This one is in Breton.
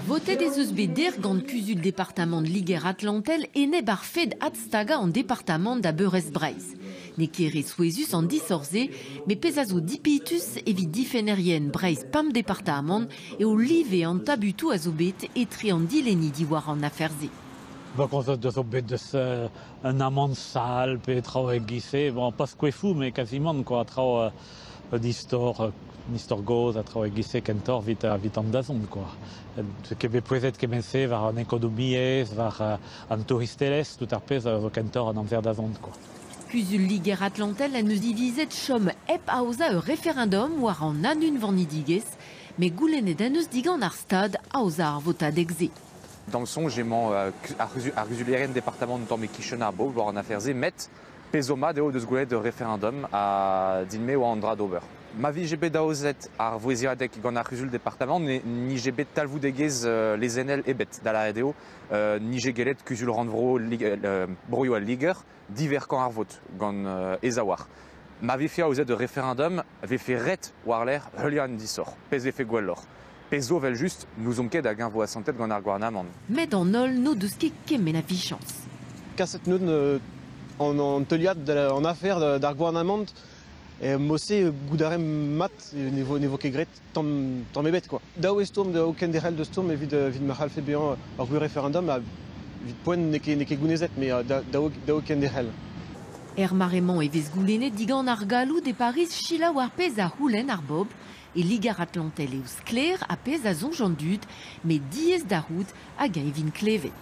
Votet ez eus bet dec'h gant kuzul departamant Liger-Atlantel enep ar fed adstagañ an departamant da beurrest Breizh. N'eo ket re souezhus an disoc'h-se, met pezh a zo dipitus evit difennerien Breizh-Pemp departamant eo live an tabutoù a zo bet etre an dilenni diwar an afer-se. Bon, concept zo bet deus un amant sal pe traoù e-giz-se, bon, pas skoefoù, mais quasiment quoi, traoù un istor un istor gozh a traoù e-giz-se kentoc'h evit an dazont kwa ket bet pouezet kement-se war an ekonomiezh war an touristelezh tout ar pezh a zo kentoc'h an amzer dazont kwa Kuzul-Liger Atlantel en deus divizet chom hep aozañ ur referendum war an anunvanidigezh met goulennet en deus digant ar Stad aozañ ar votadeg-se. D'am soñj emañ ar c'huzulerien departamant tamm e-kichen ar bobl war an afer-se met Pezh zo mat eo o deus gwelet ur referendum ha din-me e oa an dra d'ober. Ma vije bet aozet ar vouezhiadeg gant ar C'huzul-departamant ne nije bet talvoudegezh lezennel ebet, da lâret eo nije gellet Kuzul-rannvro Broioù al Liger diverkañ ar vot gant e zaouarn. Ma vefe aozet ur referendum e vefe ret war-lerc'h heuliañ an disoc'h, pezh vefe gwelloc'h. Pezh zo evel-just, n'ouzon ket hag-eñ vo asantet gant ar gouarnamant. Met an holl n'o deus ket kement a vichañs. Kaset an teuliad an afer d'ar gouarnamant. Mod-se, goût a raemp mat, ne vo ket graet tamm ebet. Dav eo stourm, o kenderc'hel da stourm evit ma c'hallfe bezañ ur gwir referendum. Evit poent n'eo ket gounezet, mais dav kenderc'hel. Er mare-mañ e vez goulennet digant ar galloud e Pariz selaou ar pezh a c'houlenn ar bobl E Liger-Atlantel eo sklaer ar pezh a soñj an dud, met diaes da c'hoût hag eñ vint klevet.